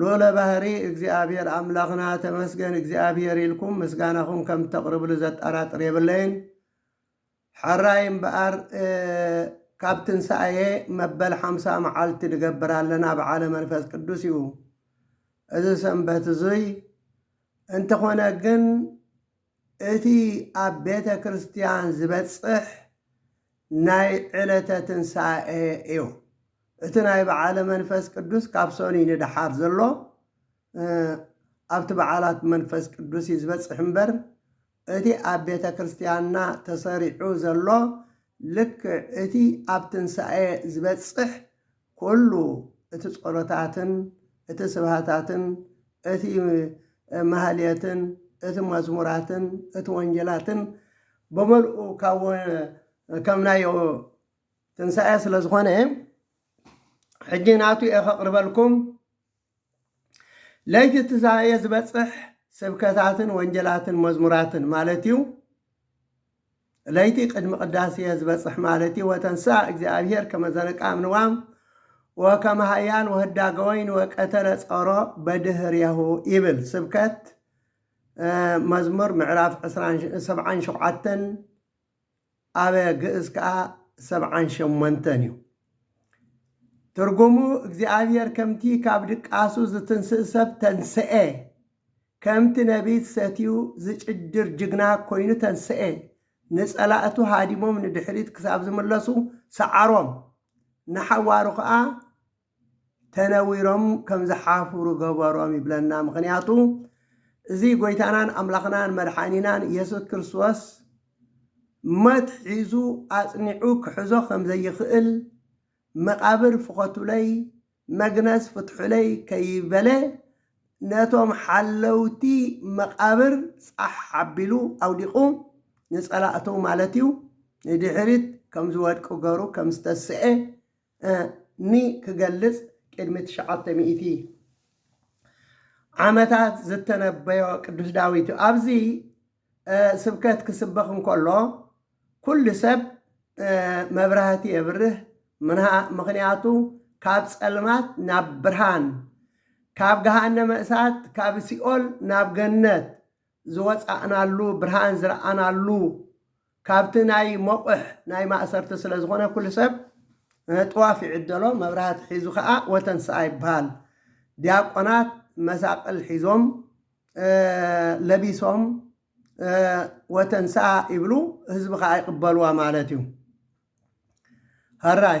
ሉኡለ ባህሪ እግዚኣብሔር ኣምላኽና ተመስገን እግዚኣብሔር ኢልኩም ምስጋናኹም ከም እተቅርብሉ ዘጣራጥር የብለይን ሐራይ እምበኣር ካብ ትንሳኤ መበል ሓምሳ መዓልቲ ንገብር ኣለና በዓለ መንፈስ ቅዱስ እዩ እዚ ሰንበት እዙይ እንተኾነ ግን እቲ ኣብ ቤተ ክርስትያን ዝበጽሕ ናይ ዕለተ ትንሣኤ እዩ። እቲ ናይ በዓለ መንፈስ ቅዱስ ካብ ሰኑይ ንደሓር ዘሎ ኣብቲ በዓላት መንፈስ ቅዱስ እዩ ዝበጽሕ እምበር እቲ ኣብ ቤተ ክርስትያንና ተሰሪዑ ዘሎ ልክዕ እቲ ኣብ ትንሣኤ ዝበጽሕ ኩሉ እቲ ጸሎታትን እቲ ስብሃታትን እቲ ማህሌትን እቲ መዝሙራትን እቲ ወንጌላትን ብምልኡ ካብ ከም ናይ ትንሳኤ ስለ ዝኾነ ሕጂ ናቱ እየ ከቕርበልኩም ለይቲ ትዛብኤ ዝበጽሕ ስብከታትን ወንጀላትን መዝሙራትን ማለት እዩ ለይቲ ቅድሚ ቅዳሴ ዝበጽሕ ማለት እዩ ወተንስኣ እግዚኣብሔር ከመዘነቃ ምንዋም ወከመ ሃያል ወህዳገ ወይን ወቀተለ ጸሮ በድህርያሁ ይብል ስብከት መዝሙር ምዕራፍ 77 ኣብ ግእዝ ከኣ ሰብዓን ሸሞንተን እዩ። ትርጉሙ እግዚኣብሔር ከምቲ ካብ ድቃሱ ዝትንስእ ሰብ ተንሥኤ፣ ከምቲ ነቢት ሰትዩ ዝጭድር ጅግና ኮይኑ ተንሥኤ፣ ንጸላእቱ ሃዲሞም ንድሕሪት ክሳብ ዝምለሱ ሰዓሮም፣ ንሓዋሩ ከኣ ተነዊሮም ከም ዝሓፉሩ ገበሮም ይብለና ምክንያቱ እዚ ጎይታናን ኣምላክናን መድሓኒናን የሱስ ክርስቶስ ሞት ሒዙ ኣጽኒዑ ክሕዞ ከም ዘይክእል መቃብር ፍኮቱለይ መግነዝ ፍትሑለይ ከይበለ ነቶም ሓለውቲ መቃብር ጻሕ ኣቢሉ ኣውዲቁ ንጸላእቱ ማለት እዩ ንድሕሪት ከም ዝወድቁ ገሩ ከም ዝተሰኤ እ ኒ ክገልጽ ቅድሚ ትሽዓተ ሚእቲ ዓመታት ዝተነበዮ ቅዱስ ዳዊት እዩ። ኣብዚ እ ስብከት ክስበኽ እንከሎ ኩሉ ሰብ እ መብራህቲ የብርህ ምና ምክንያቱ ካብ ጸልማት ናብ ብርሃን ካብ ገሃነመ እሳት ካብ ሲኦል ናብ ገነት ዝወጻእናሉ ብርሃን ዝረኣናሉ ካብቲ ናይ ሞቕሕ ናይ ማእሰርቲ ስለ ዝኾነ ኩሉ ሰብ ጥዋፍ ይዕደሎ መብራህቲ ሒዙ ከኣ ወተንስኣ ይበሃል ዲያቆናት መሳቕል ሒዞም ለቢሶም ወተንስኣ ይብሉ ህዝቢ ከኣ ይቕበልዋ ማለት እዩ። ሀራይ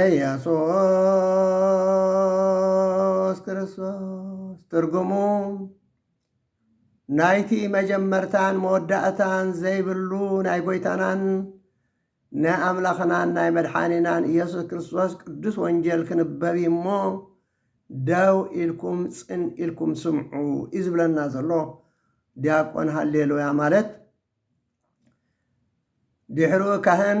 ኢየሱስ ክርስቶስ ትርጉሙ ናይቲ መጀመርታን መወዳእታን ዘይብሉ ናይ ጐይታናን ናይ ኣምላኽናን ናይ መድሓኒናን ኢየሱስ ክርስቶስ ቅዱስ ወንጌል ክንበብ እዩ እሞ ደው ኢልኩም ጽን ኢልኩም ስምዑ እዩ ዝብለና ዘሎ ዲያቆን ሃሌሉያ ማለት ድሕሩ ካህን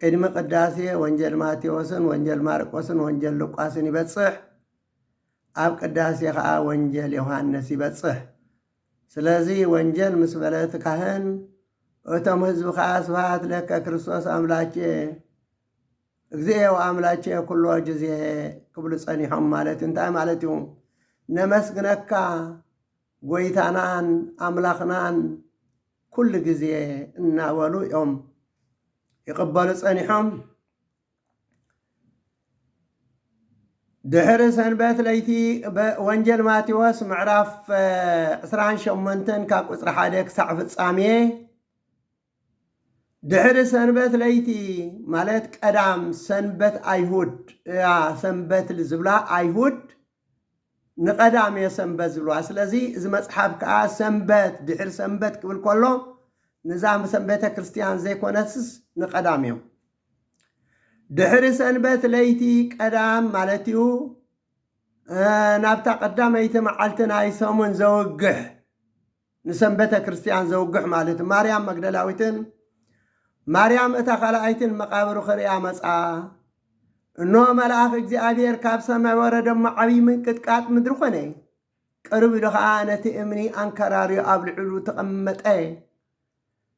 ቅድሚ ቅዳሴ ወንጌል ማቴዎስን ወንጌል ማርቆስን ወንጌል ሉቃስን ይበጽሕ። ኣብ ቅዳሴ ኸኣ ወንጌል ዮሐንስ ይበጽሕ። ስለዚ ወንጌል ምስ በለ እቲ ካህን እቶም ህዝቢ ከኣ ስብሃት ለከ ክርስቶስ ኣምላኬ እግዚኤ ወኣምላኬ ኩሎ ጊዜ ክብሉ ጸኒሖም ማለት እዩ። እንታይ ማለት እዩ? ነመስግነካ ጐይታናን ኣምላኽናን ኵሉ ግዜ እናበሉ እዮም ይቕበሉ ጸኒሖም። ድሕሪ ሰንበት ለይቲ ወንጀል ማቴዎስ ምዕራፍ ዕስራን ሸሞንተን ካብ ቁጽሪ ሓደ ክሳዕ ፍጻሜ ድሕሪ ሰንበት ለይቲ ማለት ቀዳም ሰንበት ኣይሁድ እያ ሰንበት ዝብላ ኣይሁድ ንቐዳም እየ ሰንበት ዝብልዋ ስለዚ እዚ መፅሓፍ ከዓ ሰንበት ድሕሪ ሰንበት ክብል ከሎ ንዛ ሰም ቤተ ክርስቲያን ዘይኮነትስ ንቀዳም እዮም ድሕሪ ሰንበት ለይቲ ቀዳም ማለት እዩ ናብታ ቀዳመይቲ መዓልቲ ናይ ሰሙን ዘውግሕ ንሰንበተ ክርስትያን ዘውግሕ ማለት ማርያም መግደላዊትን ማርያም እታ ካልኣይትን መቃብሩ ክርእያ መጽኣ። እኖ መልኣኽ እግዚኣብሔር ካብ ሰማይ ወረደ እሞ ዓብዪ ምንቅጥቃጥ ምድሪ ኮነ። ቅርብ ኢሉ ኸዓ ነቲ እምኒ ኣንከራርዮ ኣብ ልዕሉ ተቐመጠ።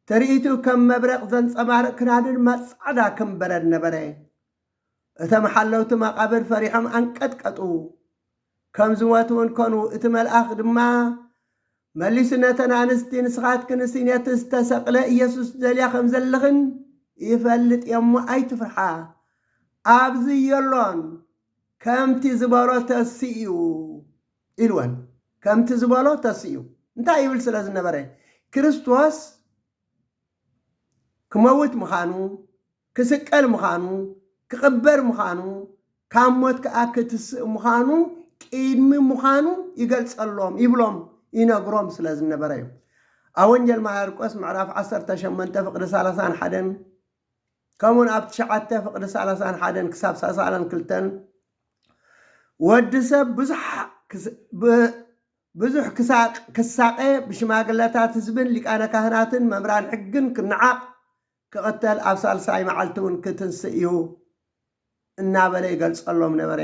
ትርኢቱ ከም መብረቕ ዘንጸባርቕ ክዳኑ ድማ ጻዕዳ ከም በረድ ነበረ። እቶም ሓለውቲ መቓብር ፈሪሖም ኣንቀጥቀጡ። ከም ዝሞትውን ኮኑ። እቲ መልኣኽ ድማ መሊሱ ነተን ኣንስቲ ንስኻትክንሲ ነቲ ዝተሰቕለ ኢየሱስ ትደልያ ከም ዘለኽን ይፈልጥ እየ እሞ ኣይትፍርሓ፣ ኣብዚ የሎን፣ ከምቲ ዝበሎ ተስኡ ኢልወን። ከምቲ ዝበሎ ተስኡ እንታይ ይብል ስለ ዝነበረ ክርስቶስ ክመውት ምዃኑ ክስቀል ምዃኑ፣ ክቕበር ምዃኑ፣ ካብ ሞት ከኣ ክትስእ ምዃኑ ቅድሚ ምዃኑ ይገልጸሎም፣ ይብሎም፣ ይነግሮም ስለ ዝነበረ እዩ። ኣብ ወንጌል ማርቆስ ምዕራፍ ዓሰርተ ሸሞንተ ፍቕዲ ሰላሳን ሓደን ከምኡውን ኣብ ትሽዓተ ፍቕዲ ሰላሳን ሓደን ክሳብ ሰሳላን ክልተን ወዲ ሰብ ብዙሕ ብዙሕ ክሳቀ ብሽማግለታት ህዝብን ሊቃነ ካህናትን መምህራን ሕግን ክነዓቕ ክቕተል ኣብ ሳልሳይ መዓልቲ ውን ክትንስእ እዩ እናበለ ይገልጸሎም ነበረ።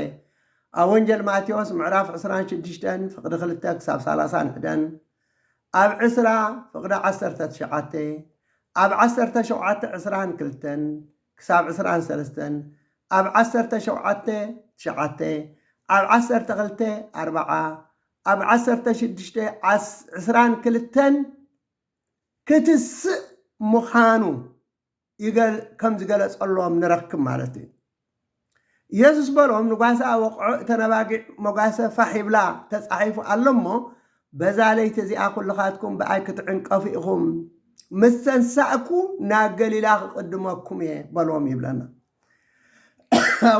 ኣብ ወንጀል ማቴዎስ ምዕራፍ ዕስራን ሽዱሽተን ፍቕዲ ክልተ ክሳብ ሳላሳን ሕደን ኣብ ዕስራ ፍቕዲ ዓሰርተ ትሽዓተ ኣብ ዓሰርተ ሸውዓተ ዕስራን ክልተን ክሳብ ዕስራን ሰለስተን ኣብ ዓሰርተ ሸውዓተ ትሽዓተ ኣብ ዓሰርተ ክልተ ኣርባዓ ኣብ ዓሰርተ ሽዱሽተ ዕስራን ክልተን ክትስእ ምዃኑ ከም ዝገለጸሎም ንረክብ ማለት እዩ። ኢየሱስ በሎም ንጓሳ ኣወቕዖ እተን ኣባጊዕ መጓሰ ፋሕ ይብላ ተጻሒፉ ኣሎ እሞ በዛ ለይቲ እዚኣ ኩልኻትኩም ብኣይ ክትዕንቀፉ ኢኹም ምስ ተንሳእኩ ናብ ገሊላ ክቕድመኩም እየ በሎም ይብለና።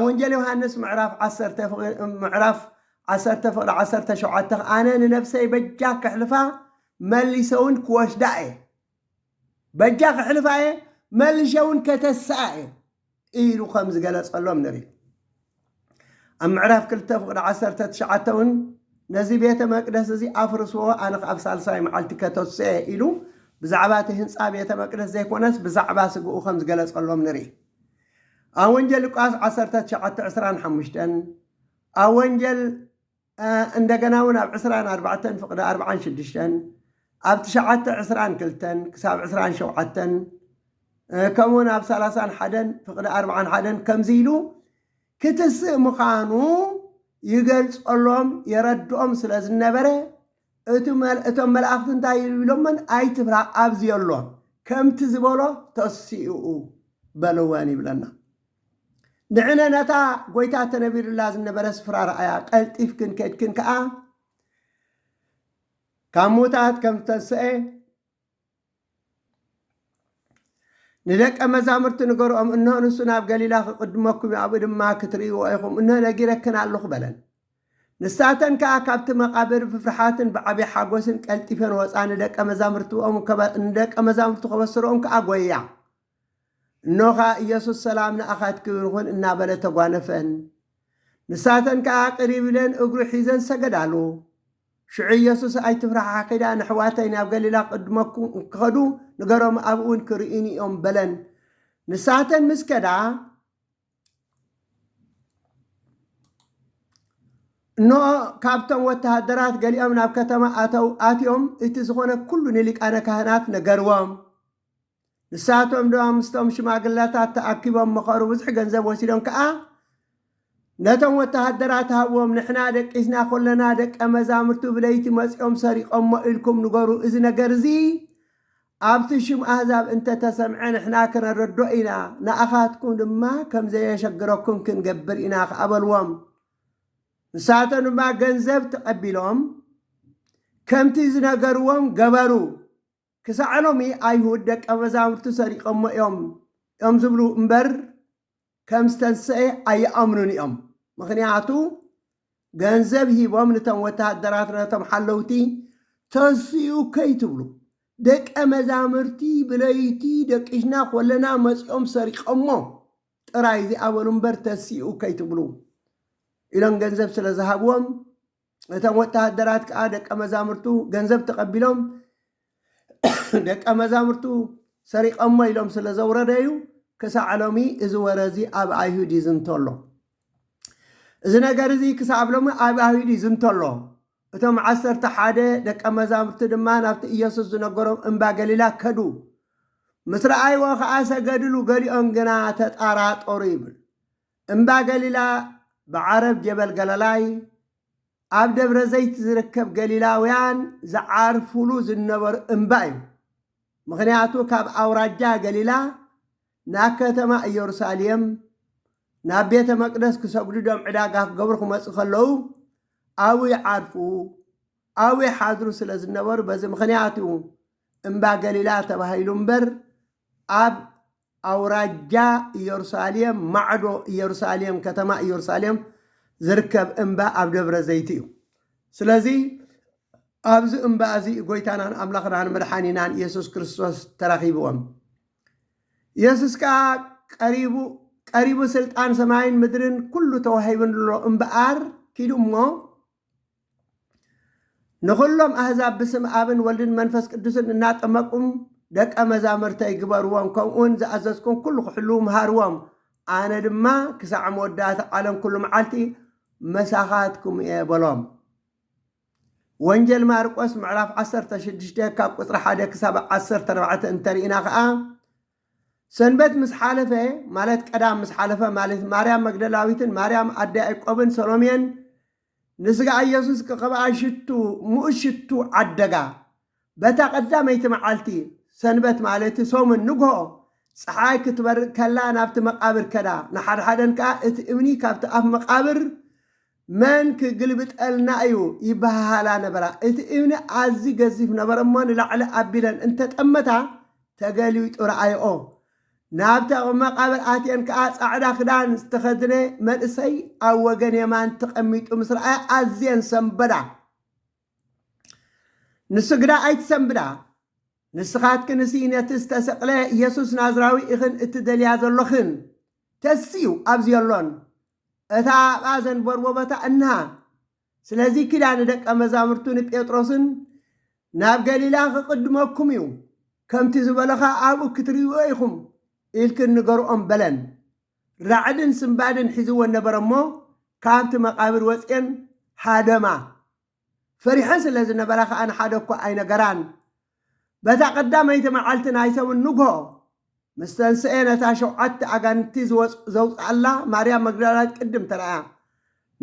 ወንጌል ዮሃንስ ምዕራፍ ዓሰርተ ፍቕሪ ዓሰርተ ሸውዓተ ኣነ ንነብሰይ በጃ ከሕልፋ መሊሰውን ክወስዳ እየ በጃ ክሕልፋ እየ መልሸውን ከተስኣ እየ ኢሉ ከም ዝገለጸሎም ንርኢ ኣብ ምዕራፍ ክልተ ፍቕዲ ዓሰርተ ትሽዓተ እውን ነዚ ቤተ መቅደስ እዚ ኣፍርስዎ ኣነ ከ ኣብ ሳልሳይ መዓልቲ ከተስአ እየ ኢሉ ብዛዕባ እቲ ህንፃ ቤተ መቅደስ ዘይኮነስ ብዛዕባ ስግኡ ከም ዝገለጸሎም ንርኢ ኣብ ወንጀል ሉቃስ ዓሰርተ ትሽዓተ ዕስራን ሓሙሽተን ኣብ ወንጀል እንደገና እውን ኣብ ዕስራን ኣርባዕተን ፍቕዲ ኣርብዓን ሽዱሽተን ኣብ ትሽዓተ ዕስራን ክልተን ክሳብ ዕስራን ሸውዓተን ከምኡ እውን ኣብ ሰላሳን ሓደን ፍቕዲ ኣርብዓን ሓደን ከምዚ ኢሉ ክትስእ ምዃኑ ይገልጸሎም የረድኦም ስለ ዝነበረ እቱ መል እቶም መላእኽቲ እንታይ ኢሎመን ኣይትፍራ ኣብዚ ኣሎ ከምቲ ዝበሎ ተሲኡ በልወን ይብለና ንዕነ ነታ ጎይታ ተነቢሩላ ዝነበረ ስፍራ ረኣያ ቀልጢፍክን ከድክን ከኣ ካብ ሙታት ከም ዝተንሰኤ ንደቀ መዛሙርቲ ንገርኦም፣ እንሆ ንሱ ናብ ገሊላ ኺቕድመኩም እዩ፣ ኣብኡ ድማ ክትርእይዎ ኢኹም፣ እንሆ ነጊረክን ኣሎኹ በለን። ንሳተን ከኣ ካብቲ መቓብር ብፍርሓትን ብዓብይ ሓጐስን ቀልጢፈን ወጻ፣ ንደቀ መዛሙርቱ ኸበስርኦም ከኣ ጐያ። እኖ ኸኣ ኢየሱስ ሰላም ንኣኻትክም ይኹን እናበለ ተጓነፈን። ንሳተን ከኣ ቅሪብ ኢለን እግሩ ሒዘን ሰገዳሉ። ሽዑ ኢየሱስ ኣይትፍራሓ ኪዳ ነሕዋተይ ናብ ገሊላ ቅድመኩም ክኸዱ ንገሮም ኣብኡውን ክርእዩኒ እዮም በለን። ንሳተን ምስ ከዳ እነሆ ካብቶም ወተሃደራት ገሊኦም ናብ ከተማ ኣተው ኣትዮም እቲ ዝኾነ ኩሉ ንሊቃነ ካህናት ነገርዎም። ንሳቶም ድማ ምስቶም ሽማግለታት ተኣኪቦም መኸሩ፣ ብዙሕ ገንዘብ ወሲዶም ከኣ ነቶም ወተሃደራት ሃብዎም፣ ንሕና ደቂስና ኰለና፣ ደቀ መዛሙርቱ ብለይቲ መጺኦም ሰሪቖሞ ኢልኩም ንገሩ፣ እዚ ነገር እዚ ኣብቲ ሽም ኣህዛብ እንተ ተሰምዐ ንሕና ከነረድኦ ኢና፣ ንኣኻትኩም ድማ ከም ዘየሸግረኩም ክንገብር ኢና ኸኣ በልዎም። ንሳቶም ድማ ገንዘብ ተቐቢሎም ከምቲ ዝነገርዎም ገበሩ። ክሳዕ ሎሚ ኣይሁድ ደቀ መዛሙርቱ ሰሪቐሞ እዮም እዮም ዝብሉ እምበር ከም ዝተንሰኤ ኣይኣምኑን እዮም ምኽንያቱ ገንዘብ ሂቦም ንቶም ወተሃደራት ነቶም ሓለውቲ ተንስኡ ከይትብሉ ደቀ መዛምርቲ ብለይቲ ደቂሽና ኮለና መጺኦም ሰሪቐሞ ጥራይ እዚኣ በሉ እምበር ተንስኡ ከይትብሉ ኢሎም ገንዘብ ስለ ዝሃብዎም እቶም ወተሃደራት ከኣ ደቀ መዛሙርቱ ገንዘብ ተቐቢሎም ደቀ መዛሙርቱ ሰሪቐሞ ኢሎም ስለ ዘውረደዩ ክሳዕ ሎሚ እዚ ወረ እዚ ኣብ ኣይሁድ ይዝንቶ ኣሎ እዚ ነገር እዚ ክሳብ ሎሚ ኣብ ኣይሁድ ይዝንቶ ኣሎ እቶም ዓሰርተ ሓደ ደቀ መዛሙርቲ ድማ ናብቲ ኢየሱስ ዝነገሮም እምባ ገሊላ ከዱ ምስ ረኣይዎ ከዓ ሰገድሉ ገሊኦም ግና ተጠራጠሩ ይብል እምባ ገሊላ ብዓረብ ጀበል ገለላይ ኣብ ደብረ ዘይት ዝርከብ ገሊላውያን ዝዓርፉሉ ዝነበሩ እምባ እዩ። ምኽንያቱ ካብ ኣውራጃ ገሊላ ናብ ከተማ እየሩሳሌም ናብ ቤተ መቅደስ ክሰግዱ ዶም ዕዳጋ ክገብሩ ክመፁ ከለዉ ኣብኡ ይዓርፉ ኣብኡ ይሓድሩ ስለ ዝነበሩ በዚ ምኽንያት እዩ እምባ ገሊላ ተባሂሉ እምበር ኣብ ኣውራጃ ኢየሩሳሌም ማዕዶ ኢየሩሳሌም ከተማ ኢየሩሳሌም ዝርከብ እምባ ኣብ ደብረ ዘይቲ እዩ። ስለዚ ኣብዚ እምባ እዚ ጎይታናን ኣምላኽናን መድሓኒናን ኢየሱስ ክርስቶስ ተራኺብዎም። ኢየሱስ ከዓ ቀሪቡ ቀሪቡ ስልጣን ሰማይን ምድርን ኩሉ ተዋሂብንሎ እምበኣር ኪዱ እሞ ንዅሎም ኣህዛብ ብስም ኣብን ወልድን መንፈስ ቅዱስን እናጠመቁም ደቀ መዛምርተይ ግበርዎም፣ ከምኡውን ዝኣዘዝኩም ኵሉ ኺሕልዉ ምሃርዎም፣ ኣነ ድማ ክሳዕ መወዳእታ ዓለም ኵሉ መዓልቲ ምሳኻትኩም እየ በሎም። ወንጌል ማርቆስ ምዕራፍ ዓሰርተ ሽዱሽተ ካብ ቁጽሪ ሓደ ክሳብ ዓሰርተ ኣርባዕተ እንተ ርኢና ኸኣ ሰንበት ምስ ሓለፈ ማለት ቀዳም ምስ ሓለፈ ማለት ማርያም መግደላዊትን ማርያም ኣደ ያዕቆብን ሰሎሜን ንስጋ ኢየሱስ ክቕብኣ ሽቱ ምኡዝ ሽቱ ዓደጋ። በታ ቀዳመይቲ መዓልቲ፣ ሰንበት ማለት'ቲ ሰሙን ንግሆ፣ ጸሓይ ክትበርቕ ከላ ናብቲ መቓብር ከዳ። ንሓድሓደን ከኣ እቲ እምኒ ካብቲ ኣፍ መቓብር መን ክግልብጠልና እዩ ይበሃሃላ ነበራ። እቲ እምኒ ኣዝዩ ገዚፍ ነበረ'ሞ ንላዕሊ ኣቢለን እንተጠመታ ተገሊቢጡ ረኣየኦ። ናብቲ ቕብ መቓብር ኣትየን ከኣ ጻዕዳ ክዳን ዝተኸድነ መንእሰይ ኣብ ወገን የማን ተቐሚጡ ምስ ረኣያ ኣዝየን ሰምበዳ። ንሱ ግዳ ኣይትሰምብዳ፣ ንስኻትክንሲ ነቲ ዝተሰቕለ የሱስ ናዝራዊ ኢኽን እትደልያ ዘሎኽን፣ ተስዩ ኣብዚ የሎን፣ እታ ኣብኣ ዘንበርቦበታ እንሃ፣ ስለዚ ኪዳ ንደቀ መዛሙርቱ ንጴጥሮስን ናብ ገሊላ ኽቕድመኩም እዩ፣ ከምቲ ዝበሎ ኸኣ ኣብኡ ክትርእይዎ ኢኹም ኢልክን ንገርኦም በለን። ራዕድን ስንባደን ሒዝወን ነበረ እሞ፣ ካብቲ መቓብር ወጺኤን ሃደማ። ፈሪሐን ስለ ዝነበራ ኸኣ ንሓደ እኳ ኣይነገራን። በታ ቀዳመይቲ መዓልቲ ናይ ሰሙን ንግሆ ምስ ተንስኤ ነታ ሸውዓተ ኣጋንንቲ ዘውጽኣላ ማርያም መግዳላዊት ቅድም ተራእያ።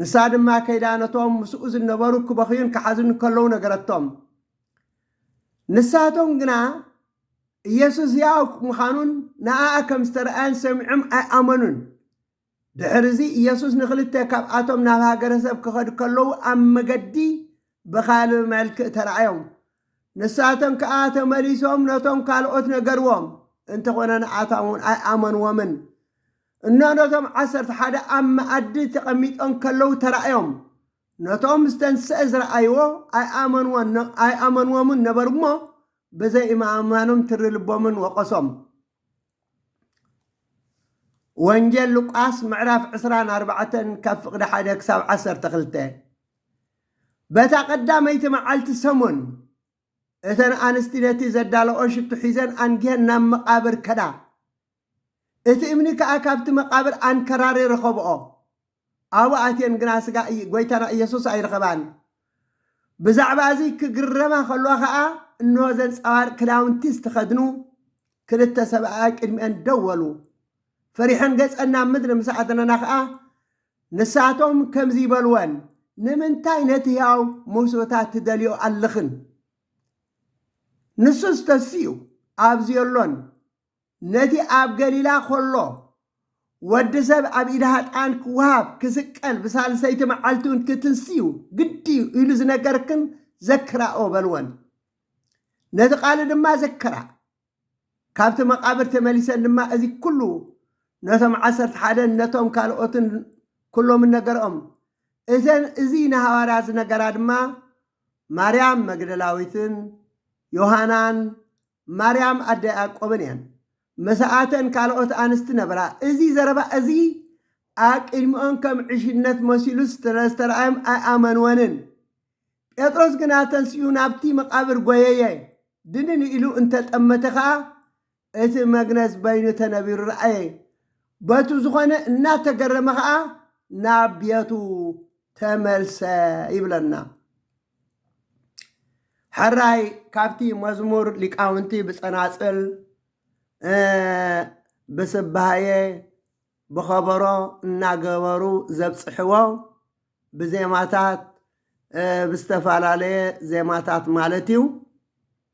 ንሳ ድማ ከይዳ ነቶም ምስኡ ዝነበሩ ክበኽዩን ክሓዝኑን ከለዉ ነገረቶም። ንሳቶም ግና ኢየሱስ ሕያው ምዃኑን ንኣኣ ከም ዝተራእያን ሰሚዖም ኣይኣመኑን። ድሕርዚ ኢየሱስ ንኽልተ ካብኣቶም ናብ ሃገረሰብ ክኸዱ ከለዉ ኣብ መገዲ ብኻልእ መልክእ ተራእዮም። ንሳቶም ከኣ ተመሊሶም ነቶም ካልኦት ነገርዎም፣ እንተኾነ ንኣታም እውን ኣይኣመንዎምን። እኖ ነቶም ዓሰርተ ሓደ ኣብ መኣዲ ተቐሚጦም ከለዉ ተራእዮም። ነቶም ምስ ተንሥኤ ዝረኣይዎ ኣይኣመንዎን ነበሩ'ሞ ብዘይምእማኖም ትሪ ልቦምን ወቐሶም። ወንጌል ሉቃስ ምዕራፍ ዕስራን ኣርባዕተን ካብ ፍቕዲ ሓደ ክሳብ ዓሰርተ ክልተ በታ ቀዳመይቲ መዓልቲ ሰሙን እተን ኣንስቲ ነቲ ዘዳለኦ ሽቱ ሒዘን ኣንጊሀን ናብ መቓብር ከዳ እቲ እምኒ ከኣ ካብቲ መቓብር ኣንከራሪ ረኸብኦ ኣብኡ ኣትየን ግና ስጋ ጎይታና ኢየሱስ ኣይረኸባን። ብዛዕባ እዚ ክግረማ ከለዋ ከኣ እንሆ ዘንጸባርቅ ክዳውንቲ ዝተኸድኑ ክልተ ሰብኣያ ቅድሚኤን ደው በሉ። ፈሪሐን ገጸን ናብ ምድሪ ምስ ኣድነና ከኣ ንሳቶም ከምዚ በልወን ንምንታይ ነቲ ሕያው ሞስበታ ትደልዮ ኣለኽን? ንሱስ ተሲኡ ኣብዙ የሎን። ነቲ ኣብ ገሊላ ኸሎ ወዲ ሰብ ኣብ ኢድ ሃጣን ክወሃብ ክስቀል ብሳልሰይቲ መዓልቲ እውን ክትንስዩ ግዲ እዩ ኢሉ ዝነገርክን ዘክራኦ በልወን ነቲ ቃሉ ድማ ዘክራ ካብቲ መቃብር ተመሊሰን ድማ እዚ ኩሉ ነቶም ዓሰርተ ሓደን ነቶም ካልኦትን ኩሎምን ነገርኦም እዘን እዚ ንሃዋርያ ዝነገራ ድማ ማርያም መግደላዊትን ዮሃናን ማርያም ኣደ ያዕቆብን እየን፣ ምሳኣተን ካልኦት ኣንስቲ ነበራ። እዚ ዘረባ እዚ ኣብ ቅድሚኦም ከም ዕሽነት መሲሉ ስለ ዝተረኣዮም ኣይኣመንወንን። ጴጥሮስ ግና ተንሲኡ ናብቲ መቓብር ጐየየ፣ ድንን ኢሉ እንተ ጠመተ ኸኣ እቲ መግነዝ በይኑ ተነቢሩ ረኣየ። በቱ ዝኾነ እናተገረመ ኸኣ ናብ ቤቱ ተመልሰ ይብለና። ሐራይ ካብቲ መዝሙር ሊቃውንቲ ብጸናጽል ብስባሔ ብኸበሮ እናገበሩ ዘብጽሕዎ ብዜማታት ብዝተፈላለየ ዜማታት ማለት እዩ።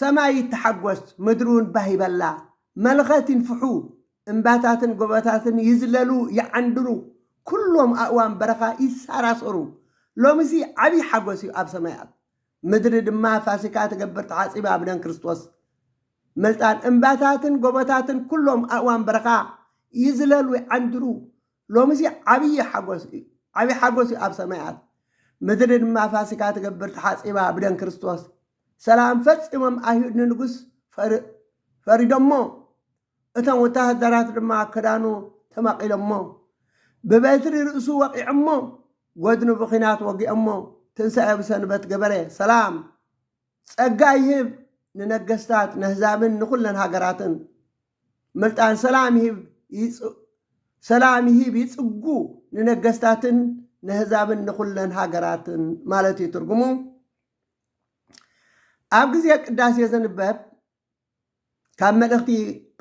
ሰማይ ይተሓጐስ፣ ምድሪውን ባህ ይበላ፣ መለኸት ይንፍሑ፣ እምባታትን ጎቦታትን ይዝለሉ ይዓንድሩ፣ ኵሎም ኣእዋም በረኻ ይሰራሰሩ። ሎሚሲ ዓብዪ ሓጐስ እዩ ኣብ ሰማያት፣ ምድሪ ድማ ፋሲካ ትገብር ተሓጺባ ብደም ክርስቶስ መልጣን። እምባታትን ጎቦታትን ኵሎም ኣእዋም በረኻ ይዝለሉ ይዓንድሩ፣ ሎሚሲ ዓብዪ ሓጐስ እዩ ዓብዪ ሓጐስ እዩ ኣብ ሰማያት፣ ምድሪ ድማ ፋሲካ ትገብር ተሓጺባ ብደም ክርስቶስ። ሰላም ፈጺሞም ኣይሁድ ንንጉስ ፈሪዶሞ፣ እቶም ወተሃደራት ድማ ክዳኑ ተመቒሎሞ፣ ብበትሪ ርእሱ ወቒዖሞ፣ ጐድኑ ብኲናት ወጊኦሞ፣ ትንሳኤ ብሰንበት ገበረ። ሰላም፣ ጸጋ ይህብ ንነገስታት፣ ነህዛብን ንኹለን ሃገራትን፣ ምልጣን ሰላም ይህብ ይጽ ሰላም ይህብ ይጽጉ ንነገስታትን ነህዛብን ንኹለን ሃገራትን ማለት እዩ ትርጉሙ። ኣብ ግዜ ቅዳሴ ዝንበብ ካብ መልእኽቲ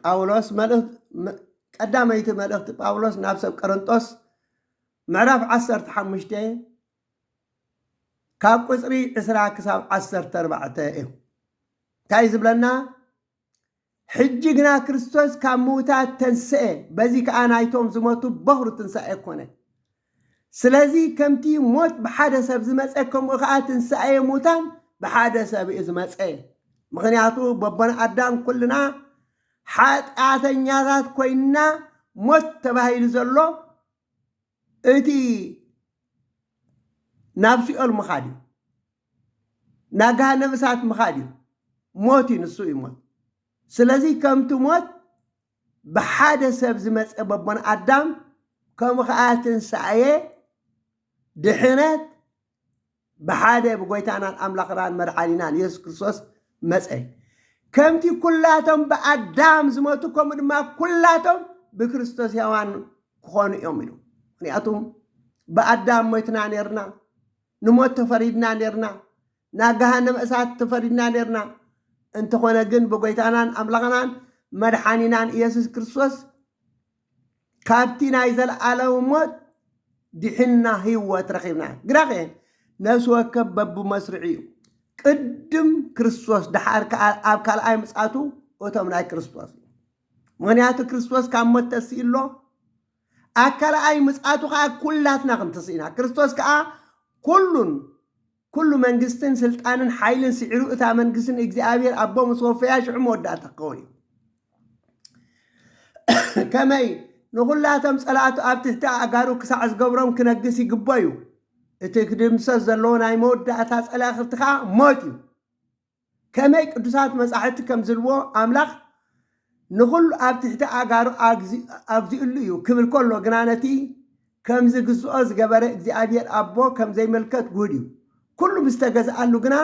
ጳውሎስ ቀዳመይቲ መልእኽቲ ጳውሎስ ናብ ሰብ ቀረንጦስ ምዕራፍ 15 ካብ ቁፅሪ 20 ክሳብ 14 እዩ እንታይ ዝብለና ሕጂ ግና ክርስቶስ ካብ ምዉታት ተንስኤ፣ በዚ ከኣ ናይቶም ዝሞቱ በዅሪ ትንሳኤ ኰነ። ስለዚ ከምቲ ሞት ብሓደ ሰብ ዝመጸ ከምኡ ከኣ ትንሳኤ ሙታን ብሓደ ሰብ እዩ ዝመጸ። ምኽንያቱ በቦና ኣዳም ኩልና ሓጢኣተኛታት ኰይንና ሞት ተባሂሉ ዘሎ እቲ ናብ ሲኦል ምኻድ እዩ። ናብ ገሃነብ እሳት ምኻድ እዩ ሞት እዩ ንሱ እዩ ሞት ስለዚ ከምቲ ሞት ብሓደ ሰብ ዝመፀ በቦን ኣዳም ከምኡ ከዓ ትንሳኤ ድሕነት ብሓደ ብጎይታናን ኣምላኽናን መድሓኒናን የሱስ ክርስቶስ መፀ ከምቲ ኩላቶም ብኣዳም ዝመቱ ከምኡ ድማ ኩላቶም ብክርስቶስ ሕያዋን ክኾኑ እዮም ኢሉ ምክንያቱም ብኣዳም ሞትና ነርና ንሞት ተፈሪድና ኔርና፣ ናብ ገሃነመ እሳት ተፈሪድና ኔርና፣ እንተኾነ ግን ብጎይታናን ኣምላኽናን መድሓኒናን ኢየሱስ ክርስቶስ ካብቲ ናይ ዘለኣለም ሞት ዲሒንና ህይወት ረኺብና። ግና ከ ነፍሲ ወከፍ በብመስርዑ እዩ፣ ቅድም ክርስቶስ ደሓር ከኣ ኣብ ካልኣይ ምጽኣቱ እቶም ናይ ክርስቶስ እዩ። ምኽንያቱ ክርስቶስ ካብ ሞት ተሲኡ ኣሎ፣ ኣብ ካልኣይ ምጽኣቱ ከኣ ኩላትና ክንትስኢና ክርስቶስ ከኣ ኩሉን ኩሉ መንግስትን ስልጣንን ሓይልን ስዒሩ እታ መንግስቲ ንእግዚኣብሔር ኣቦ ምስ ወፈያ ሽዑ መወዳእታ ክኸውን እዩ ከመይ ንኹላቶም ጸላእቱ ኣብ ትሕቲ ኣእጋሩ ክሳዕ ዝገብሮም ክነግስ ይግቦ እዩ እቲ ክድምሰስ ዘለዎ ናይ መወዳእታ ጸላእኽርቲ ከዓ ሞት እዩ ከመይ ቅዱሳት መጻሕፍቲ ከም ዝብልዎ ኣምላኽ ንኹሉ ኣብ ትሕቲ ኣእጋሩ ኣግዚኡሉ እዩ ክብል ከሎ ግና ነቲ ከም ዝግዝኦ ዝገበረ እግዚኣብሔር ኣቦ ከም ዘይምልከት ግሁድ እዩ። ኩሉ ምስ ተገዝኣሉ ግና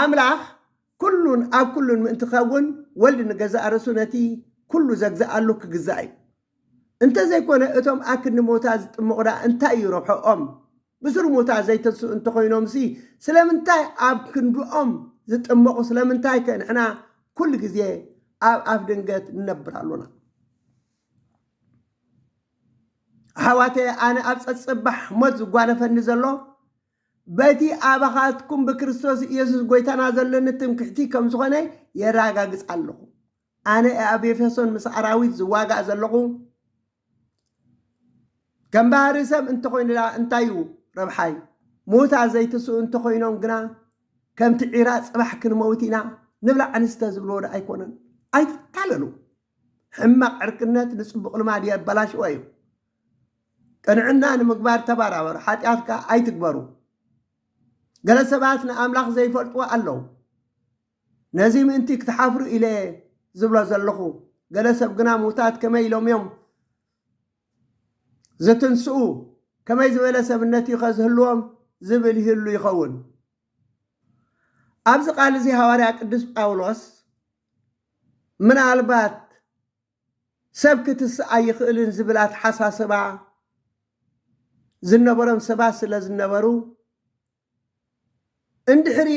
ኣምላኽ ኩሉን ኣብ ኩሉን ምእንቲ ክኸውን ወልድ ንገዛእ ርእሱ ነቲ ኩሉ ዘግዝኣሉ ክግዛእ እዩ። እንተዘይኮነ እቶም ኣክንዲ ሞታ ዝጥምቑ ድኣ እንታይ እዩ ረብሕኦም? ብሱሩ ሙታ ዘይተንስኡ እንተኾይኖምሲ ስለምንታይ ኣብ ክንድኦም ዝጥመቑ ስለምንታይከ ንሕና ኩሉ ግዜ ኣብ ኣፍ ድንገት ንነብር ኣሎና? ኣሕዋተየ ኣነ ኣብ ጸጽባሕ ሞት ዝጓነፈኒ ዘሎ በቲ ኣባኻትኩም ብክርስቶስ ኢየሱስ ጎይታና ዘለኒ ትምክሕቲ ከም ዝኾነ የራጋግጽ ኣለኹ። ኣነ እየ ኣብ ኤፌሶን ምስ ኣራዊት ዝዋጋእ ዘለኹ። ከም ባህሪ ሰብ እንተኾይኑ ድኣ እንታይ እዩ ረብሓይ? ምዉታት ዘይትስኡ እንተኾይኖም ግና ከምቲ ዒራ ጽባሕ ክንመውት ኢና ንብላዕ ንስተ ዝብልዎ ድኣ ኣይኮነን። ኣይትታለሉ። ሕማቕ ዕርክነት ንጽቡቕ ልማድ የበላሽዎ እዩ። ቅንዕና ንምግባር ተባራበሩ፣ ሓጢኣት ከኣ ኣይትግበሩ። ገለ ሰባት ንኣምላኽ ዘይፈልጥዎ ኣለዉ። ነዚ ምእንቲ ክትሓፍሩ ኢለ'የ ዝብሎ ዘለኹ። ገለ ሰብ ግና ምዉታት ከመይ ኢሎም'ዮም ዝትንስኡ? ከመይ ዝበለ ሰብነት'ዩኸ ዝህልዎም? ዝብል ይህሉ ይኸውን። ኣብዚ ቃል'ዚ ሃዋርያ ቅዱስ ጳውሎስ ምናልባት ሰብ ክትስእ ኣይኽእልን ዝብል ኣተሓሳስባ ዝነበሮም ሰባት ስለ ዝነበሩ እንድሕሪ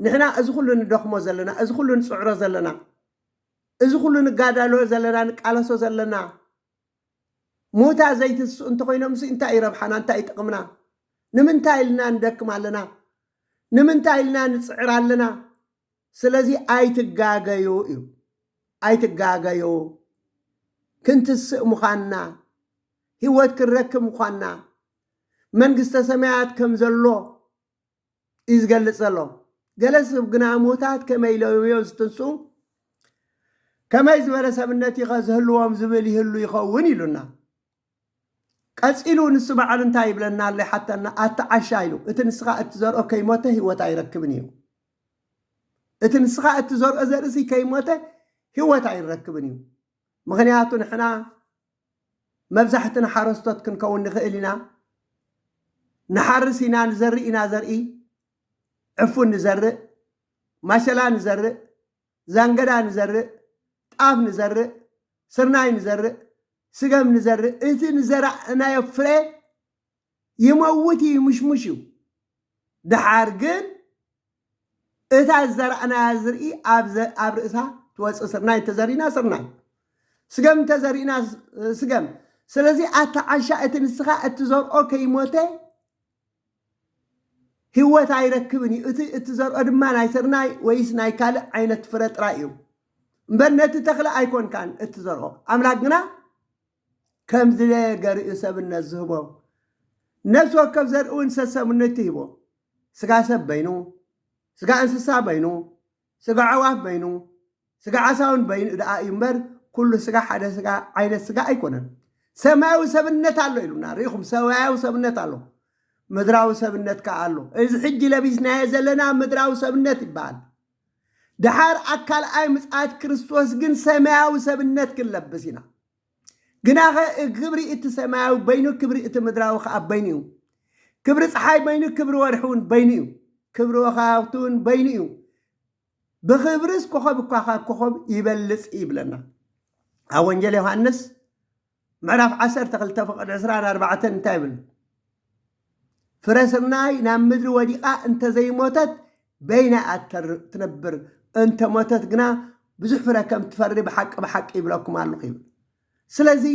ንሕና እዚ ኩሉ ንደኽሞ ዘለና፣ እዚ ኩሉ ንጽዕሮ ዘለና፣ እዚ ኩሉ ንጋዳሎ ዘለና፣ ንቃለሶ ዘለና፣ ሙታ ዘይትስኡ እንተኾይኖምሲ እንታይ እዩ ረብሓና፣ እንታይ እዩ ጥቕምና፣ ንምንታይ ኢልና ንደክም ኣለና፣ ንምንታይ ኢልና ንጽዕር ኣለና፣ ስለዚ ኣይትጋገዩ እዩ፣ ኣይትጋገዩ፣ ክንትስእ ምዃንና፣ ህይወት ክንረክብ ምዃንና፣ መንግስተ ሰማያት ከምዘሎ፣ እዩ ዝገልጽ ዘሎ። ገለ ስብ ግና ምዉታት ከመይ ኢሎም እዮም ዝትንስኡ? ከመይ ዝበለ ሰብነት እዩኸ ዝህልዎም ዝብል ይህሉ ይኸውን ኢሉና። ቀጺሉ ንሱ ባዕሉ እንታይ ይብለና ኣሎ ይሓተና፣ ኣታ ዓሻ ኢሉ እቲ ንስኻ እትዘርኦ ከይሞተ ህይወት ኣይረክብን እዩ። እቲ ንስኻ እትዘርኦ ዘርእሲ ከይሞተ ህይወት ኣይረክብን እዩ። ምኽንያቱ ንሕና መብዛሕትና ሓረስቶት ክንከውን ንኽእል ኢና። ንሓርስ ኢና፣ ንዘርእ ኢና ዘርኢ፣ ዕፉን ንዘርእ፣ ማሸላ ንዘርእ፣ ዛንገዳ ንዘርእ፣ ጣፍ ንዘርእ፣ ስርናይ ንዘርእ፣ ስገም ንዘርእ፣ እቲ ንዘራእናዮ ፍረ ይመውት ይምሽሙሽ እዩ ድሓር ግን እታ ዝዘራእናያ ዝርኢ ኣብ ርእሳ ትወፅእ ስርናይ እንተዘሪእና ስርናይ ስገም እንተዘሪእና ስገም ስለዚ ኣታ ዓሻ እቲ ንስኻ እትዘርኦ ከይሞተ ህይወት ኣይረክብን እዩ እቲ እትዘርኦ ድማ ናይ ስርናይ ወይስ ናይ ካልእ ዓይነት ፍረ ጥራይ እዩ እምበር ነቲ ተኽሊ ኣይኮንካን እትዘርኦ ኣምላክ ግና ከም ዝደለየ ገር'ዩ ሰብነት ዝህቦ። ነፍሲ ወከፍ ዘርኢ'ውን ሰሰብነቱ ሂቡ። ስጋ ሰብ በይኑ፣ ስጋ እንስሳ በይኑ፣ ስጋ ኣዕዋፍ በይኑ፣ ስጋ ዓሳ'ውን በይኑ ደኣ እዩ እምበር ኩሉ ስጋ ሓደ ስጋ ዓይነት ስጋ ኣይኮነን። ሰማያዊ ሰብነት ኣሎ ኢሉና፣ ርኢኹም ሰማያዊ ሰብነት ኣሎ፣ ምድራዊ ሰብነት ከኣ ኣሎ። እዚ ሕጂ ለቢስናዮ ዘለና ምድራዊ ሰብነት ይበሃል። ድሓር ኣብ ካልኣይ ምጽኣት ክርስቶስ ግን ሰማያዊ ሰብነት ክንለብስ ኢና። ግናኸ ክብሪ እቲ ሰማያዊ በይኑ ክብሪ እቲ ምድራዊ ከኣ በይኑ እዩ። ክብሪ ፀሓይ በይኑ ክብሪ ወርሒ እውን በይኑ እዩ። ክብሪ ወከባብቲ እውን በይኑ እዩ። ብኽብርስ ኮኸብ እኳ ካብ ኮኸብ ይበልጽ ይብለና ኣብ ወንጌል ዮሃንስ ምዕራፍ ዓሰርተ ክልተ ፍቕድ ዕስራን ኣርባዕተን እንታይ ይብል? ፍረ ስርናይ ናብ ምድሪ ወዲቓ እንተ ዘይሞተት በይና እያ ትነብር፣ እንተ ሞተት ግና ብዙሕ ፍረ ከም እትፈሪ ብሓቂ ብሓቂ ይብለኩም ኣለኹ ይብል። ስለዚ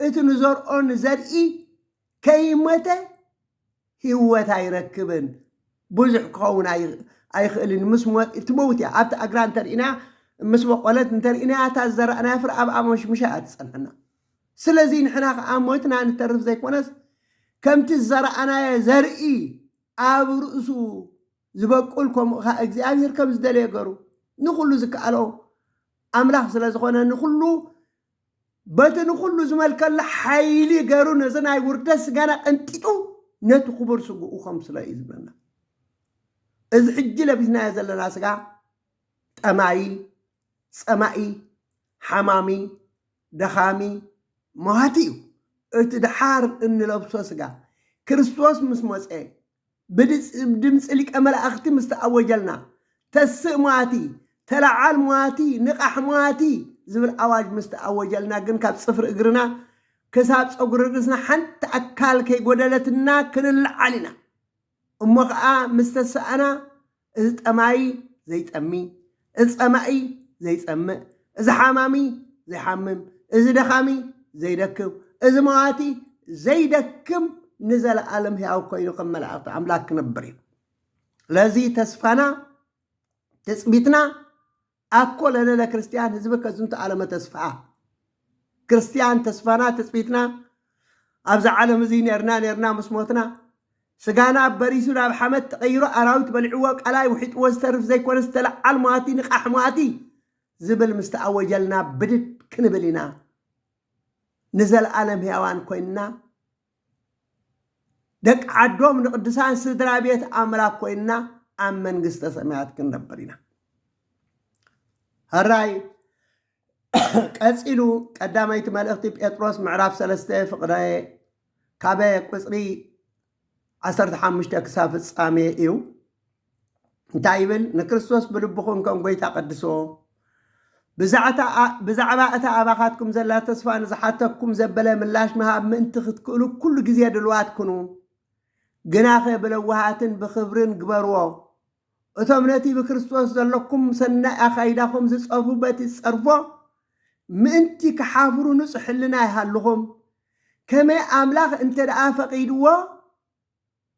እቲ ንዘርኦ ንዘርኢ ከይሞተ ህይወት ኣይረክብን ብዙሕ ክኸውን ኣይኽእልን ምስ ሞት እትመውት እያ ኣብቲ ኣግራ እንተርኢና ምስ በቆለት እንተርኢናያ እታ ዝዘራእናያ ፍረ ኣብ ኣሞሽምሻ እያ ትጸንሐና ስለዚ ንሕና ከዓ ሞትና ንተርፍ ዘይኮነስ ከምቲ ዝዘራእናየ ዘርኢ ኣብ ርእሱ ዝበቁል ከምኡ ከዓ እግዚኣብሔር ከም ዝደለየ ገሩ ንኩሉ ዝከኣሎ ኣምላኽ ስለ ዝኾነ ንኩሉ በቲ ንኹሉ ዝመልከሉ ሓይሊ ገሩ ነዚ ናይ ውርደት ስጋና ቀንጢጡ ነቲ ክቡር ስግኡ ከምስሎ እዩ ዝብለና። እዚ ሕጂ ለቢስናዮ ዘለና ስጋ ጠማዪ፣ ጸማኢ፣ ሓማሚ፣ ደኻሚ፣ መዋቲ እዩ። እቲ ደሓር እንለብሶ ስጋ ክርስቶስ ምስ መጸ ብድምጺ ሊቀ መላእኽቲ ምስ ተኣወጀልና፣ ተስእ ሟቲ፣ ተለዓል ሟቲ፣ ንቓሕ ሟቲ ዝብል ኣዋጅ ምስ ተኣወጀልና ግን ካብ ጽፍሪ እግርና ክሳብ ጸጉሪ ርእስና ሓንቲ ኣካል ከይጎደለትና ክንለዓል ኢና። እሞ ኸኣ ምስ ተሳእና እዚ ጠማዪ ዘይጠሚ፣ እዚ ጸማኢ ዘይጸምእ፣ እዚ ሓማሚ ዘይሓምም፣ እዚ ደኻሚ ዘይደክም፣ እዚ መዋቲ ዘይደክም ንዘለኣለም ሕያው ኮይኑ ከም መላእኽቲ ኣምላኽ ክነብር እዩ። ስለዚ ተስፋና ትጽቢትና ኣኮ ለለለ ክርስቲያን ህዝብ ከዝንቱ ዓለመ ተስፋኣ ክርስቲያን ተስፋና ትጽቢትና ኣብዛ ዓለም እዙይ ኔርና ኔርና ምስ ሞትና ስጋና በሪሱ ናብ ሓመት ተቐይሮ ኣራዊት በሊዕዎ ቀላይ ውሒጥዎ ዝተርፍ ዘይኮነ ዝተለዓል ሟቲ ንቃሕ ሟቲ ዝብል ምስ ተኣወጀልና ብድድ ክንብል ኢና ንዘለኣለም ህያዋን ኮይንና ደቂ ዓዶም ንቅዱሳን ስድራ ቤት ኣምላክ ኮይንና ኣብ መንግስተ ሰማያት ክንነብር ኢና ሀራይ ቀፂሉ ቀዳመይቲ መልእኽቲ ጴጥሮስ ምዕራፍ ሰለስተ ፍቅረ ካበ ቁፅሪ ዓሰርተ ሓሙሽተ ክሳብ ፍፃሜ እዩ እንታይ ይብል? ንክርስቶስ ብልብኹም ከም ጐይታ ቀድስዎ፣ ብዛዕባ እታ ኣባኻትኩም ዘላ ተስፋ ንዝሓተኩም ዘበለ ምላሽ ምሃብ ምእንቲ ክትክእሉ ኩሉ ግዜ ድልዋት ኩኑ። ግናኸ ብለውሃትን ብኽብርን ግበርዎ። እቶም ነቲ ብክርስቶስ ዘለኩም ሰናይ ኣኻይዳኹም ዝጸርፉ በቲ ዝጸርፎ ምእንቲ ክሓፍሩ ንጹሕ ሕልና ይሃልኹም። ከመይ ኣምላኽ እንተ ደኣ ፈቒድዎ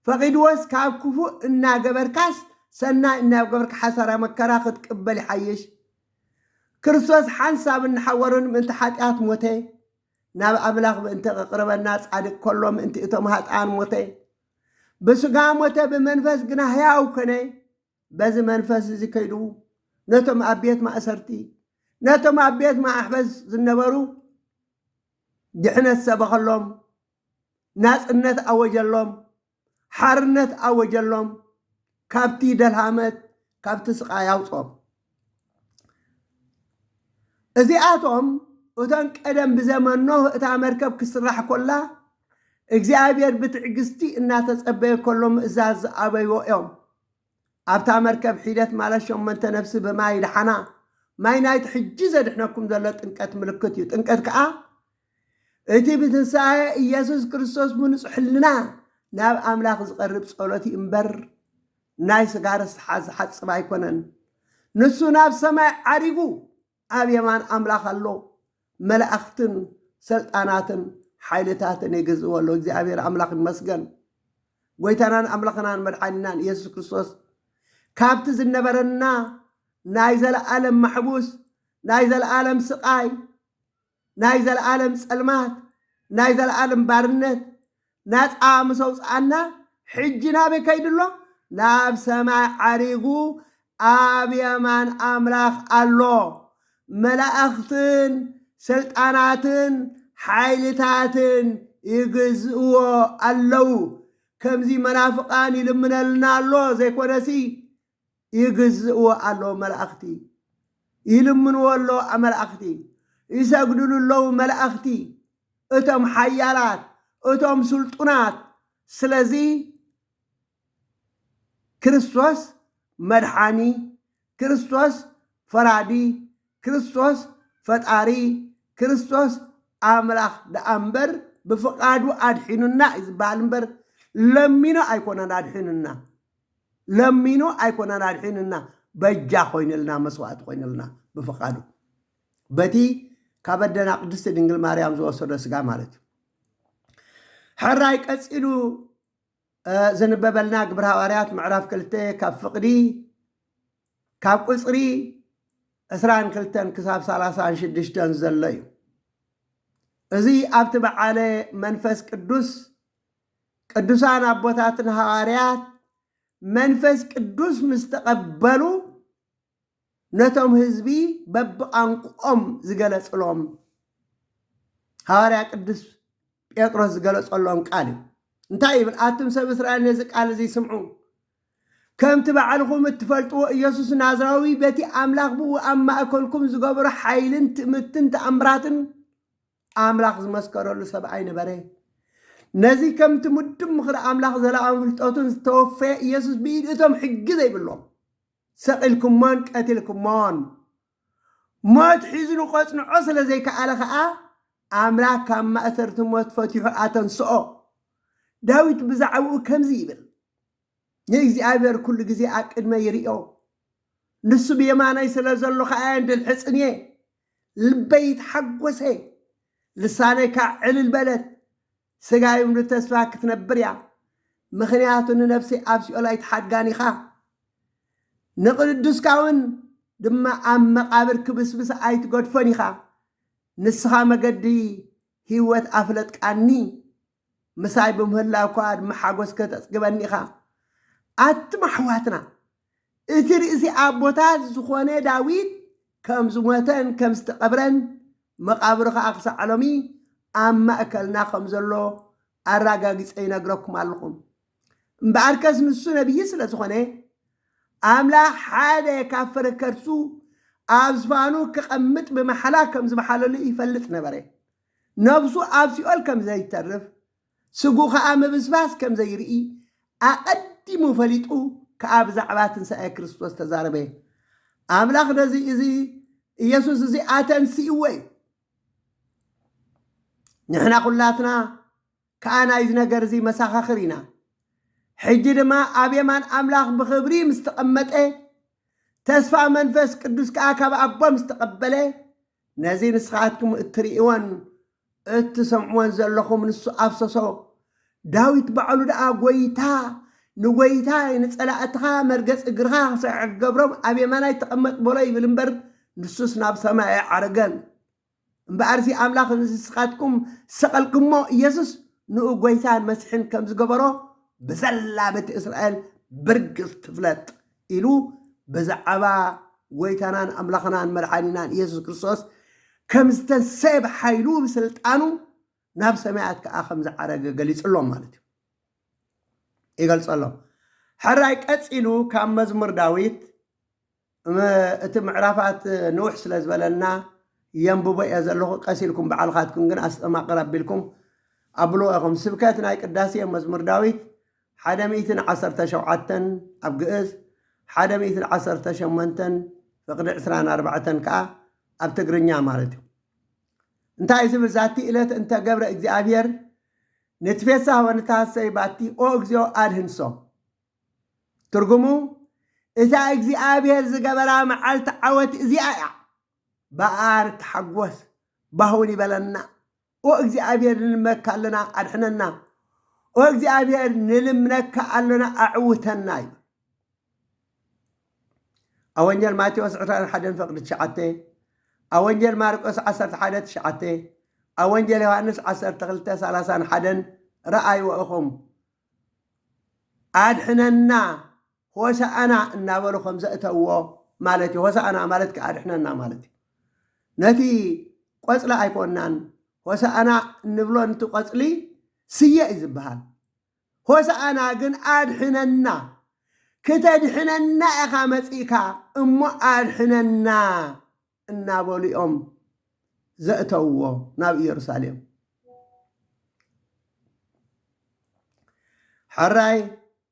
ፈቂድዎስ ካብ ክፉእ እናገበርካስ ሰናይ እናገበርካ ሓሳራ መከራ ክትቅበል ይሓይሽ ክርስቶስ ሓንሳብን ንሓወሩን ምእንቲ ሓጥያት ሞተ ናብ ኣምላኽ ምእንቲ ከቅርበና ጻድቅ ከሎ ምእንቲ እቶም ሃጥኣን ሞተ ብስጋ ሞተ ብመንፈስ ግና ሕያው ኮነ በዚ መንፈስ እዚ ከይዱ ነቶም ኣብ ቤት ማእሰርቲ ነቶም ኣብ ቤት ማሕበስ ዝነበሩ ድሕነት ሰበኸሎም ናጽነት ኣወጀሎም፣ ሓርነት ኣወጀሎም፣ ካብቲ ደልሃመት ካብቲ ስቓይ ኣውጽኦም። እዚኣቶም እተን ቀደም ብዘመን ኖህ እታ መርከብ ክትስራሕ ኮላ እግዚኣብሔር ብትዕግስቲ እናተጸበየ ከሎ ምእዛዝ ዝኣበይዎ እዮም። ኣብታ መርከብ ሒደት ማለት ሸሞንተ ነፍሲ ብማይ ደሓና። ማይ ናይቲ ሕጂ ዘድሕነኩም ዘሎ ጥምቀት ምልክት እዩ። ጥምቀት ከኣ እቲ ብትንሳኤ ኢየሱስ ክርስቶስ ብንጹሕ ሕልና ናብ ኣምላኽ ዝቐርብ ጸሎት እዩ እምበር ናይ ስጋ ርስሓት ዝሓጽብ ኣይኮነን። ንሱ ናብ ሰማይ ዓሪጉ ኣብ የማን ኣምላኽ ኣሎ፣ መላእኽትን ሰልጣናትን ሓይልታትን ይግዝእዎ ኣለዉ። እግዚኣብሔር ኣምላኽ ይመስገን። ጐይታናን ኣምላኽናን መድሓኒናን ኢየሱስ ክርስቶስ ካብቲ ዝነበረና ናይ ዘለኣለም ማሕቡስ ናይ ዘለኣለም ስቓይ ናይ ዘለኣለም ጸልማት ናይ ዘለኣለም ባርነት ናጻ ምስ ኣውጽኣና ሕጂ ናበይ ከይዱ ኣሎ ናብ ሰማይ ዓሪጉ ኣብ የማን ኣምላኽ ኣሎ መላእኽትን ስልጣናትን ሓይልታትን ይግዝእዎ ኣለዉ ከምዚ መናፍቃን ይልምነልና ኣሎ ዘይኮነሲ ይግዝእዎ ኣለዉ መላእኽቲ ይልምንዎ ኣለዉ ኣመላእኽቲ ይሰግድሉ ኣለዉ መላእኽቲ እቶም ሓያላት እቶም ስልጡናት ስለዚ ክርስቶስ መድሓኒ ክርስቶስ ፈራዲ ክርስቶስ ፈጣሪ ክርስቶስ ኣምላኽ ደኣ እምበር ብፍቓዱ ኣድሒኑና እዩ ዝበሃል እምበር ለሚኑ ኣይኮነን ኣድሒኑና ለሚኑ ኣይኮነን ኣድሒኑና በጃ ኮይንልና መስዋእቲ ኮይንልና ብፍቃዱ በቲ ካብ ኣደና ቅድስቲ ድንግል ማርያም ዝወሰዶ ስጋ ማለት እዩ ሕራይ ቀፂሉ ዝንበበልና ግብረ ሃዋርያት ምዕራፍ ክልተ ካብ ፍቅዲ ካብ ቁፅሪ ዕስራን ክልተን ክሳብ ሰላሳን ሽዱሽተን ዘሎ እዩ እዚ ኣብቲ በዓለ መንፈስ ቅዱስ ቅዱሳን ኣቦታትን ሃዋርያት መንፈስ ቅዱስ ምስ ተቐበሉ ነቶም ህዝቢ በብቛንቁኦም ዝገለጽሎም ሃዋርያ ቅዱስ ጴጥሮስ ዝገለጸሎም ቃል እዩ እንታይ ይብል ኣቱም ሰብ እስራኤል ነዚ ቃል እዚ ስምዑ ከምቲ ባዕልኹም እትፈልጥዎ ኢየሱስ ናዝራዊ በቲ ኣምላኽ ብኡ ኣብ ማእከልኩም ዝገበሮ ሓይልን ትእምትን ተኣምራትን ኣምላኽ ዝመስከረሉ ሰብኣይ ነበረ። ነዚ ከምቲ ምዱብ ምኽሪ ኣምላኽ ዘለኣም ፍልጠቱን ዝተወፈየ ኢየሱስ ብኢድ እቶም ሕጊ ዘይብሎም ሰቒልኩሞን ቀቲልኩሞን። ሞት ሒዝኑ ቐጽንዖ ስለ ዘይከኣለ ኸኣ ኣምላኽ ካብ ማእሰርቲ ሞት ፈቲሑ ኣተንስኦ። ዳዊት ብዛዕባኡ ከምዚ ይብል፣ ንእግዚኣብሔር ኩሉ ግዜ ኣብ ቅድመይ ይርእዮ፣ ንሱ ብየማነይ ስለ ዘሎ ኸኣ የንድልሕጽን እየ። ልበይ ተሓጎሰ፣ ልሳነይ ካዓ ዕልል በለት፣ ስጋይ ውን ብተስፋ ክትነብር እያ፣ ምኽንያቱ ንነፍሰይ ኣብ ሲኦል ኣይትሓድጋን ኢኻ፣ ንቅዱስካ ውን ድማ ኣብ መቃብር ክብስብሳ ኣይትገድፎን ኢኻ፣ ንስኻ መገዲ ሂወት ኣፍለጥቃኒ፣ ምሳይ ብምህላውካ ድማ ሓጎስ ከተጽግበኒ ኢኻ። ኣቱም ኣሕዋትና፣ እቲ ርእሲ ኣቦታት ዝዀነ ዳዊት ከም ዝሞተን ከም ዝተቐብረን፣ መቓብሩ ኸኣ ኽሳዕ ሎሚ ኣብ ማእከልና ኸም ዘሎ ኣራጋጊጸ ይነግረኩም ኣሎኹ። እምበኣርከስ ንሱ ነብዪ ስለ ዝዀነ፣ ኣምላኽ ሓደ ካብ ፍረ ከርሱ ኣብ ዝፋኑ ኬቐምጥ ብማሕላ ከም ዝመሓለሉ ይፈልጥ ነበረ። ነፍሱ ኣብ ሲኦል ከም ዘይተርፍ፣ ስግኡ ኸኣ ምብስባስ ከም ዘይርኢ ኣቐዲሙ ፈሊጡ ከኣ ብዛዕባ ትንሳኤ ክርስቶስ ተዛረበ። ኣምላኽ ነዚ እዚ ኢየሱስ እዚ ኣተንሲእዎ እዩ። ንሕና ኩላትና ከኣ ናይዚ ነገር እዚ መሳኻኽር ኢና። ሕጂ ድማ ኣብ የማን ኣምላኽ ብኽብሪ ምስ ተቐመጠ፣ ተስፋ መንፈስ ቅዱስ ከኣ ካብ ኣቦ ምስ ተቐበለ፣ ነዚ ንስኻትኩም እትርእይዎን እትሰምዕዎን ዘለኹም ንሱ ኣፍሰሶ። ዳዊት ባዕሉ ደኣ ጐይታ ንጐይታይ ንጸላእትኻ መርገጽ እግርኻ ክስዕር ክገብሮም ኣብ የማናይ ተቐመጥ በሎ ይብል እምበር ንሱስ ናብ ሰማይ ኣይዓረገን። እምበኣርሲ ኣምላኽ ንስኻትኩም ዝሰቐልክሞ ኢየሱስ ንኡ ጐይታን መሲሕን ከም ዝገበሮ ብዘላ ቤተ እስራኤል ብርግጽ ትፍለጥ። ኢሉ በዛዕባ ጎይታናን ኣምላኽናን መድሓኒናን ኢየሱስ ክርስቶስ ከም ዝተንሰየ ብሓይሉ ብስልጣኑ ናብ ሰማያት ከኣ ከም ዝዓረገ ገሊጽሎም ማለት እዩ ይገልጸሎም ሕራይ ቀጺሉ ካብ መዝሙር ዳዊት እቲ ምዕራፋት ንውሕ ስለ ዝበለና የንብቦ እየ ዘለኹ ቀስ ኢልኩም በዓልካትኩም ግን ኣስተማቕር ኣቢልኩም ኣብልዎ ኢኹም ስብከት ናይ ቅዳሴ መዝሙር ዳዊት ሓደ ሚእትን ዓሰርተ ሸውዓተን ኣብ ግእዝ፣ ሓደ ሚእትን ዓሰርተ ሸሞንተን ፍቅዲ ዕስራን ኣርባዕተን ከኣ ኣብ ትግርኛ ማለት እዩ። እንታይ እዩ ዝብል ዛቲ እለት እንተ ገብረ እግዚኣብሔር ንትፌሳህ ወንትሃሰይ ባቲ ኦ እግዚኦ ኣድህንሶ ትርጉሙ እታ እግዚኣብሔር ዝገበራ መዓልቲ ዓወት እዚኣ እያ በኣ ንተሓጎስ ባህውን ይበለና ኦ እግዚኣብሔር ንልመካ ኣለና ኣድሕነና ኦ እግዚኣብሔር ንልምነካ ኣሎና ኣዕውተና ይብል ኣብ ወንጀል ማቴዎስ ዕስራን ሓደን ፈቅዲ ትሽዓተ ኣብ ወንጀል ማርቆስ ዓሰርተ ሓደ ትሽዓተ ኣብ ወንጀል ዮሃንስ ዓሰርተ ክልተ ሰላሳን ሓደን ረኣይዎ ኢኹም ኣድሕነና ሆሣዕና እናበሉ ከም ዘእተውዎ ማለት እዩ። ሆሣዕና ማለት ከዓ ኣድሕነና ማለት እዩ። ነቲ ቆፅሊ ኣይኮናን ሆሣዕና እንብሎ ንቲ ቆፅሊ ስየ እዩ ዝበሃል። ሆሣዕና ግን ኣድሕነና ክተድሕነና ኢኻ መፂእካ እሞ ኣድሕነና እናበሉ እዮም ዘእተውዎ ናብ ኢየሩሳሌም። ሕራይ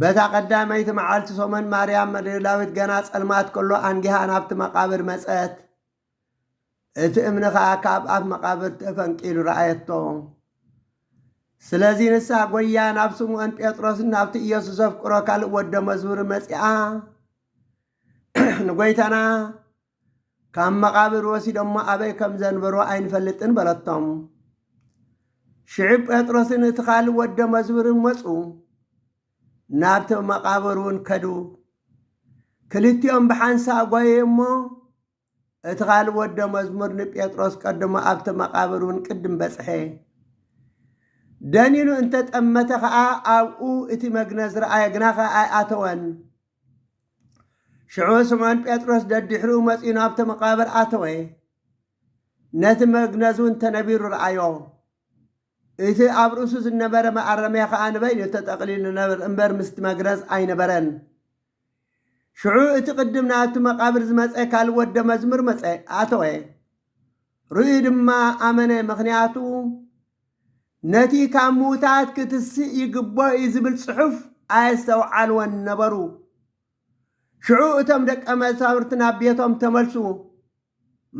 በታ ቀዳመይቲ መዓልቲ ሰሙን ማርያም መግደላዊት ገና ጸልማት ከሎ ኣንጊሃ ናብቲ መቓብር መጸት። እቲ እምኒ ኸኣ ካብ ኣፍ መቓብር ተፈንቂሉ ረኣየቶ። ስለዚ ንሳ ጐይያ ናብ ስምዖን ጴጥሮስን ናብቲ ኢየሱስ ዘፍቅሮ ካልእ ወደ መዝሙርን መጺኣ ንጐይታና ካብ መቓብር ወሲዶሞ ኣበይ ከም ዘንበሮ ኣይንፈልጥን በለቶም። ሽዑ ጴጥሮስን እቲ ካልእ ወደ መዝሙርን መጹ፣ ናብቲ መቓብር እውን ከዱ። ክልቲኦም ብሓንሳእ ጓየ እሞ እቲ ካልእ ወደ መዝሙር ንጴጥሮስ ቀድሞ ኣብቲ መቓብር እውን ቅድም በጽሐ። ደኒኑ እንተጠመተ ኸኣ ኣብኡ እቲ መግነዝ ረኣየ፣ ግናኸ ኣይኣተወን። ሽዑ ስምዖን ጴጥሮስ ደድሕሪኡ መጺኡ ናብቲ መቓብር ኣተወ። ነቲ መግነዝ እውን ተነቢሩ ረኣዮ። እቲ ኣብ ርእሱ ዝነበረ መኣረምያ ኸኣ ንበይኑ ተጠቕሊሉ ነበር እምበር ምስቲ መግነዝ ኣይነበረን። ሽዑ እቲ ቅድም ናብቲ መቓብር ዝመጸ ካልእ ወደ መዝሙር መጸ፣ ኣተወ። ርእዩ ድማ ኣመነ፣ ምኽንያቱ ነቲ ካብ ምዉታት ክትስእ ይግብኦ እዩ ዝብል ጽሑፍ ኣየስተውዓልዎን ነበሩ። ሽዑ እቶም ደቀ መዛሙርቲ ናብ ቤቶም ተመልሱ፣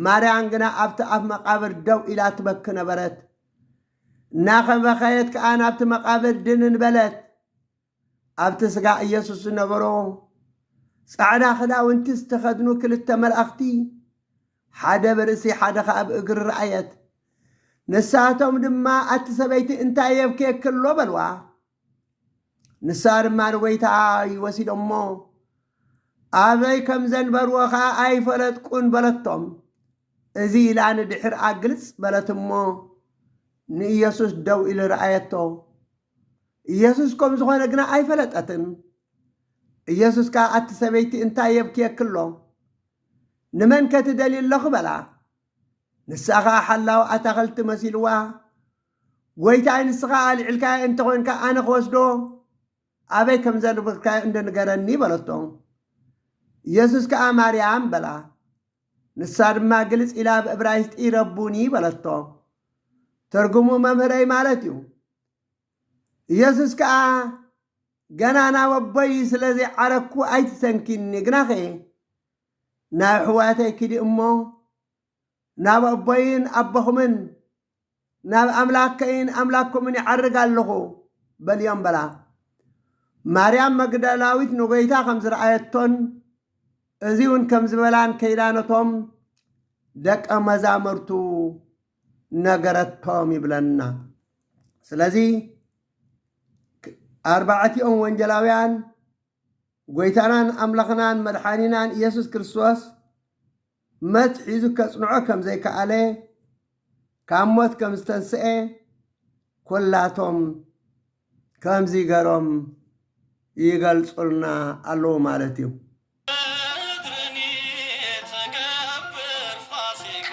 ማርያም ግና ኣብቲ ኣፍ መቓብር ደው ኢላ ትበኪ ነበረት። እናኸበኸየት ከኣ ናብቲ መቓብር ድንን በለት። ኣብቲ ስጋ ኢየሱስ ዝነበሮ ጻዕዳ ክዳውንቲ ዝተኸድኑ ክልተ መልኣኽቲ፣ ሓደ ብርእሲ ሓደ ኸኣ ብእግሪ ረኣየት። ንሳቶም ድማ ኣቲ ሰበይቲ እንታይ የብክየኪ ኣሎ በልዋ። ንሳ ድማ ንጐይታ ወሲዶሞ ኣበይ ከም ዘንበርዎ ኸኣ ኣይፈለጥኩን በለቶም። እዚ ኢላ ንድሕርኣ ግልጽ በለት እሞ ንኢየሱስ ደው ኢሉ ረኣየቶ። ኢየሱስ ከም ዝኾነ ግና ኣይፈለጠትን። ኢየሱስ ከኣ ኣቲ ሰበይቲ እንታይ የብክየኪ ኣሎ? ንመንከ ትደልዪ ኣሎኺ? በላ። ንሳ ኸኣ ሓላዊ ኣታኽልቲ መሲልዋ ጐይታይ ንስኻ ኣልዒልካዮ እንተ ኾንካ ኣነ ክወስዶ ኣበይ ከም ዘንብርካዮ እንዶ ንገረኒ በለቶ። ኢየሱስ ከኣ ማርያም በላ። ንሳ ድማ ግልጽ ኢላ ብእብራይስጢ ረቡኒ በለቶ። ትርጉሙ መምህረይ ማለት እዩ። ኢየሱስ ከኣ ገና ናብ ኣቦይ ስለ ዘይዓረግኩ ኣይትሰንኪኒ፣ ግናኸ ናብ ኣሕዋተይ ኪዲ እሞ ናብ ኣቦይን ኣቦኹምን ናብ ኣምላከይን ኣምላኩምን ይዓርግ ኣለኹ በልዮም በላ። ማርያም መግደላዊት ንጎይታ ከም ዝረኣየቶን እዚ እውን ከም ዝበላን ከይዳ ነቶም ደቀ መዛሙርቱ ነገረቶም ይብለና። ስለዚ ኣርባዕቲኦም ወንጀላውያን ጐይታናን ኣምላኽናን መድሓኒናን ኢየሱስ ክርስቶስ መት ሒዙ ከጽንዖ ከም ዘይከኣለ ካብ ሞት ከም ዝተንስኤ ኵላቶም ከምዚ ገሮም ይገልጹልና ኣለዉ ማለት እዩ። በትርኒ ትገብር ፋሲካ።